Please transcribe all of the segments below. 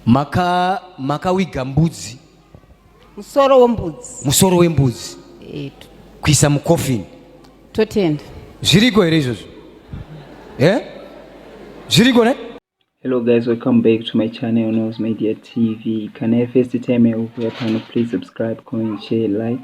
maka makawiga mbudzi musoro wembudzi musoro wembudzi etu kuisa mucoffin totenda zviriko here izvozvo e zviriko ne hello guys welcome back to my channel knows media tv kana first time yaukuya pano please subscribe comment share like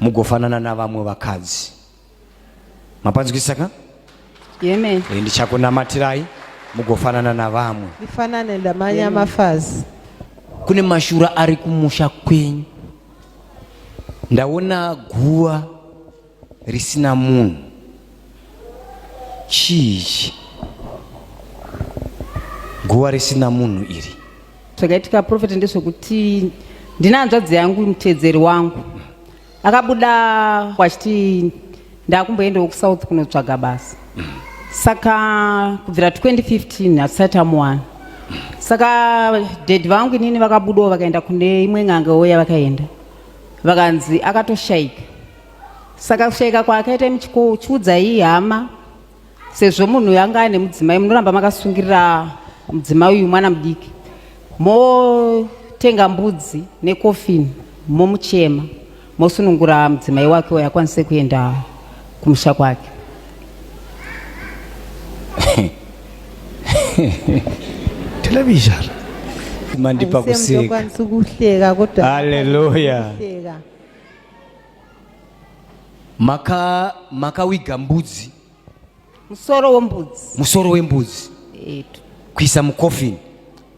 mugofanana navamwe vakadzi mapanzwisisa ka Amen. Eh, ndichakunamatirai mugofanana navamwe ndifanane ndamanya mafazi kune mashura ari kumusha kwenyu ndaona guva risina munhu chii ichi guva risina munhu iri zvakaitika profeti ndezvekuti ndine hanzvadzi yangu muteedzeri wangu akabuda kwachiti ndakumboendawo kusouth kunotsvaga basa saka kubvira 2015 hatisati amuwana saka dedi vangu inini vakabudawo vakaenda kune imwe n'anga oya vakaenda vakanzi akatoshayika saka kushaika kwaakaita imi chikuudzai hama sezvo munhu uyu anga ane mudzimai munoramba makasungirira mudzimai uyu mwana mudiki motenga mbudzi nekofini momuchema mosunungura mudzimai wake uyo akwanise kuenda kumusha kwake television mandipa kuseka kuhleka kodwa haleluya maka makawiga mbudzi musoro wembudzi musoro wembudzi etu kuisa mucoffin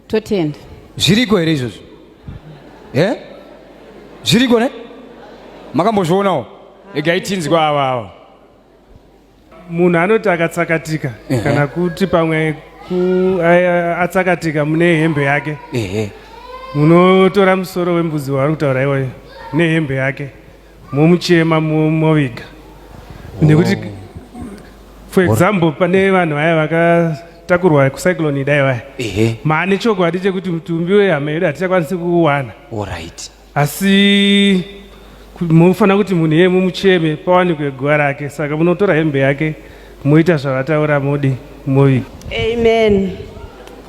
totenda zviriko here izvozvo e eh? zviriko ne makambozvionawo egai tinzwa ava ava munhu anoti akatsakatika Ehe. kana kuti pamwe ku- a- a- atsakatika mune hembe yake ehe munotora musoro wembudzi waari kutaura iwoyo nehembe yake momuchema mo- moviga nekuti for example pane vanhu vaya vakatakurwa kucyclone idai vaya ehe maane chokwadi chekuti mutumbi wehama yedu hatichakwanisi kuuwana alright asi munofanira kuti munhu iyeye mumucheme pawanikwe guva rake saka munotora hembe yake moita zvavataura modi moviga amen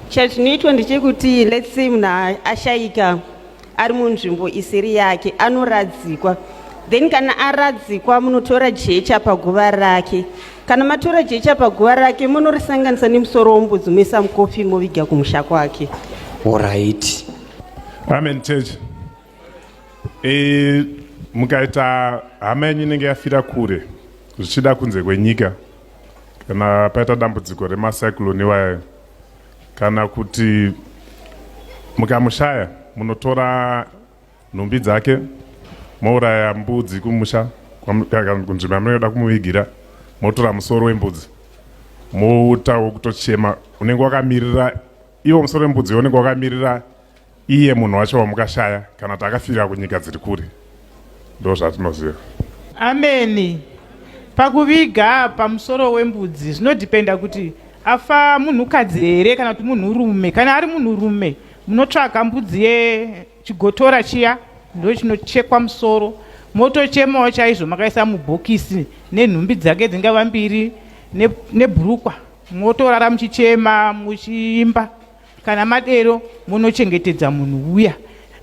chazvinoitwa ndechekuti let's say munhu ashaika ari munzvimbo isiri yake anoradzikwa then kana aradzikwa munotora jecha paguva rake kana matora jecha paguva rake munorisanganisa nemusoro wombudzi moisa mukofi moviga kumusha kwake orit Amen church. E, mukaita hama yenyu inenge yafira kure zvichida kunze kwenyika kana paita dambudziko remacyclone iwayo kana kuti mukamushaya munotora nhumbi dzake mouraya mbudzi kumusha kunzvimbo yamunenge da kumuvigira motora musoro wembudzi moutawo kutochema unenge wakamirira Iwo musoro wembudzi yoonekwa wakamirira iye munhu wacho wamukashaya kana kuti akafira kunyika dziri kure ndo zvatinoziva ameni pakuviga pamusoro wembudzi zvinodhipenda kuti afa munhukadzi here kana kuti munhurume kana ari munhurume munotsvaga mbudzi yechigotora chiya ndo chinochekwa musoro motochemawo chaizvo makaisa mubhokisi nenhumbi dzake dzingava mbiri nebhurukwa ne motorara muchichema muchiimba kana madero munochengetedza munhu uya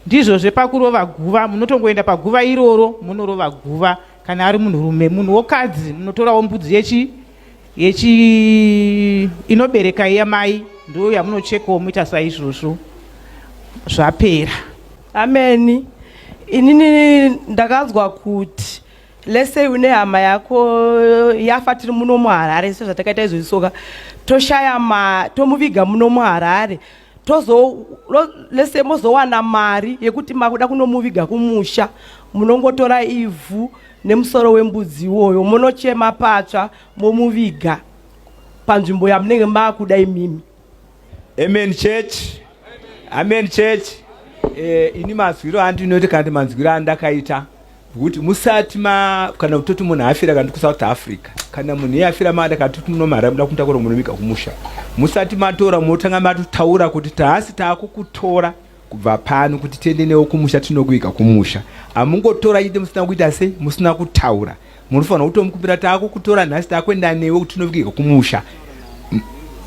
ndizvo zvepakurova guva munotongoenda paguva iroro munorova guva kana ari munhurume munhu wokadzi munotorawo mbudzi yechi yechi inobereka iya mai ndo yamunochekawo moita saizvozvo zvapera ameni inini ndakanzwa kuti Let's say une hama yako yafa tiri muno muHarare sezvatakaita izvozvi soka toshaya ma tomuviga muno muHarare tozo let's say mozowana mari yekuti makuda kunomuviga kumusha munongotora ivhu nemusoro wembudzi iwoyo monochema patsva momuviga panzvimbo yamunenge makuda imimi Amen church. Amen church. Eh, ini mazwiro andinoti kana manzwiro andakaita kuti musati ma kana kutoti munhu afira kana kuSouth Africa kana munhu iye afira mada kana kuti muno mara muda kutakura munhu vika kumusha musati matora motanga matotaura kuti taasi taakukutora Kubva pano kuti tiende newo kumusha tinokuviga kumusha. Hamungotora chete musina kuita sei musina kutaura. Munofanirwa kutomukupira taakukutora nhasi taakuenda newe kuti tinoviga kumusha.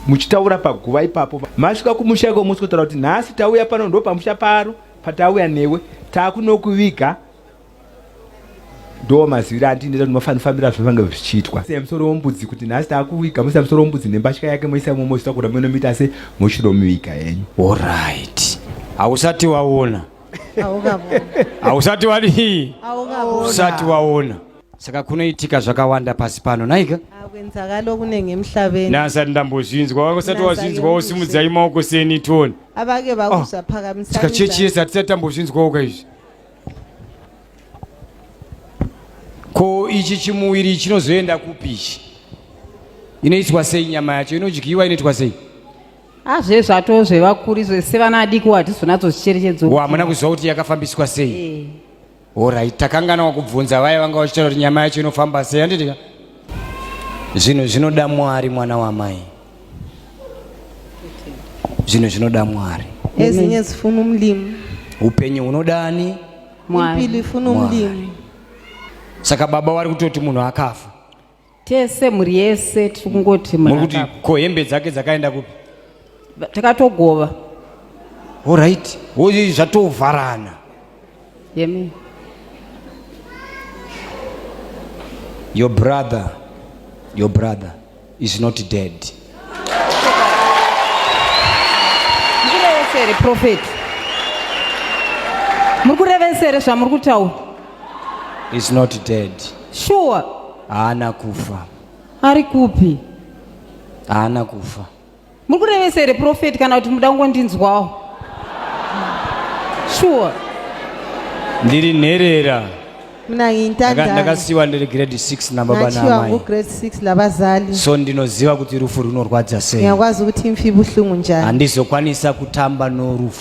Muchitaura paguva ipapo. Masvika kumusha iko mosikotaura kuti nhasi tauya pano ndopamusha paro patauya newe taakunokuviga. ndo maziviro andineta kuti mafani fambira zvavange zvichiitwa se musoro wombudzi kuti nhasi takuviga musa musoro wombudzi nembatya yake moisa momo zvitakura mwe nomita se moshiro muviga yenyu orit hausati waona hausati wadii usati waona saka kunoitika zvakawanda pasi pano naika kwenzakalo kunenge emhlabeni nasati ndambozvinzwa wakusati wazvinzwa wosimudzai maoko seni toni avake vakuza oh, phakamisa saka chechi yese hatisati tambozvinzwawo ka izvi Ko ichi chimuviri chinozoenda kupi ichi? Inoitwa sei nyama yacho? Inodyiwa inoitwa sei? Azve zvatoo zvevakuri zvese vana adiki watizonatso zvicherechedzwa. Wa hamuna kuziva kuti yakafambiswa sei? Eh. Alright, takangana wakubvunza vaya vanga vachitaura kuti nyama yacho inofamba sei handiti? Zvinhu zvinoda Mwari mwana wamai. zvinhu zvinoda mwari ezinye zifuna umlimi upenyu hunoda ani impilo ifuna umlimi saka baba wari kutoti munhu akafa tese mhuri yese tiri kungoti muri kuti ko hembe dzake dzakaenda kupi takatogova orit ozi zvatovharana yeme your brother your brother is not dead mukurevesere prophet muri kurevesere zvamuri kutaura is not dead sure haana kufa ari kupi haana kufa Muri kurevesa here profeti kana kuti muda kungondinzwawo? Sure. Ndiri nherera. Mna ngiyintandane. Ndakasiwa ndiri grade 6 nababa namai. Nachiwa ngu grade 6 labazali. So ndinoziva kuti rufu runorwadza sei. Ngiyakwazi ukuthi imfi ibuhlungu njani. Handizokwanisa kutamba norufu.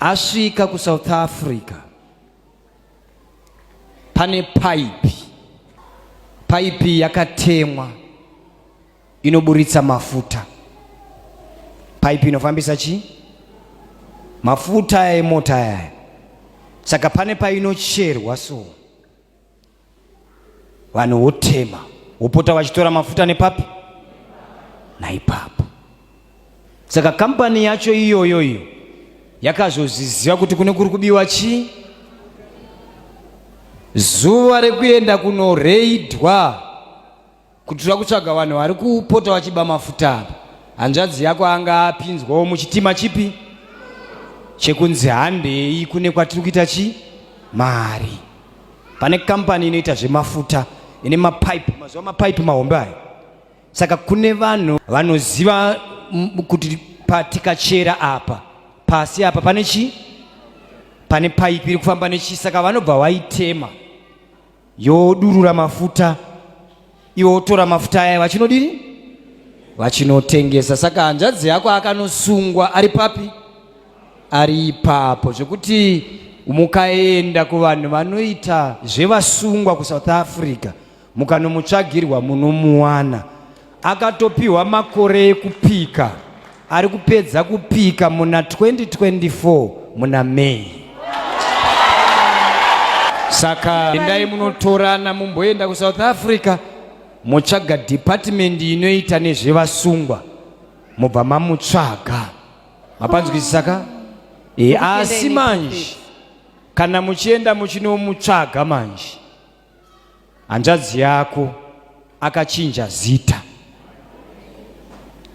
asvika kusouth africa pane paipi paipi yakatemwa inoburitsa mafuta paipi inofambisa chii mafuta emota yaya saka pane painocherwa so vanhu wotema wopota vachitora mafuta nepapi naipapo saka kambani yacho iyoyo iyo yakazozviziva kuti kune kuri kubiwa chii zuva rekuenda kunoreidwa Kutura kutsvaga vanhu vari kupota vachiba mafuta apa. Hanzvadzi yako anga apinzwawo muchitima chipi? Chekunzi handei kune kwatiri kuita chi? Mari. Pane company inoita zvemafuta ine mapipe, mazuva mapipe mahombe aya. Saka kune vanhu vanoziva kuti patikachera apa pasi apa pane chi? Pane pipe iri kufamba nechi saka vanobva vaitema. yodurura mafuta iwo wotora mafuta aya vachinodini vachinotengesa saka hanzvadzi yako akanosungwa ari papi ari ipapo zvekuti mukaenda kuvanhu vanoita zvevasungwa kusouth africa mukanomutsvagirwa munomuwana Akatopiwa makore ekupika ari kupedza kupika muna 2024 muna May. Saka endai munotorana mumboenda kuSouth Africa motsvaga department inoita nezvevasungwa mobva mamutsvaga. Mapanzwisisa ka? E, asi manje kana muchienda muchinomutsvaga manje hanzvadzi yako akachinja zita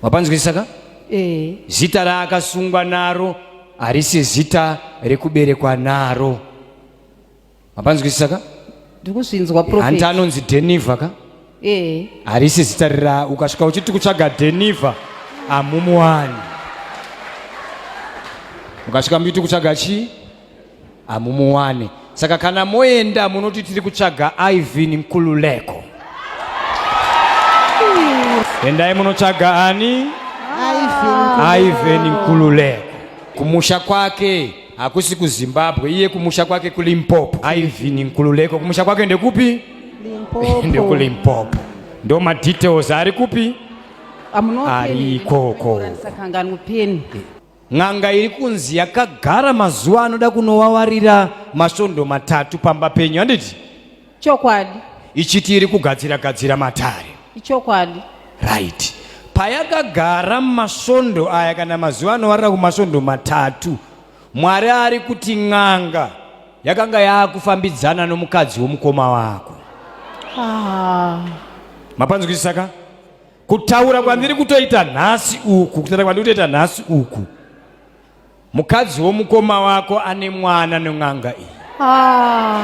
wapanzwisisa ka eh. zita raakasungwa naro harisi zita rekuberekwa naro wapanzwisisa ka ndikuzvinzwa hanti anonzi deniva ka eh. harisi zita rira ukasvika uchiti kutsvaga deniva amumuwani ukasvika mbiti kutsvaga chii hamumuwane saka kana moenda munoti tiri kutsvaga ivin nkululeko endai munotsvaga ani ivin nkululeko kumusha kwake hakusi kuzimbabwe iye kumusha kwake kulimpopo ivin nkululeko kumusha kwake ndekupi ndekulimpopo ndo madetails ari kupi ari ikoko N'anga iri kunzi yakagara mazuva anoda kunowawarira masvondo matatu pamba penyu handiti? Chokwadi. Ichiti iri kugadzira gadzira matare. Ichokwadi. Right. Payakagara masvondo aya kana mazuva anowarira kumasvondo matatu Mwari ari kuti n'anga yakanga yaakufambidzana nomukadzi womukoma wako. Ah. Mapanzwisisa ka? kutaura kwandiri kutoita nhasi uku kutaura kwandiri kutoita nhasi uku mukadzi womukoma wako ane mwana nen'anga iyi ah.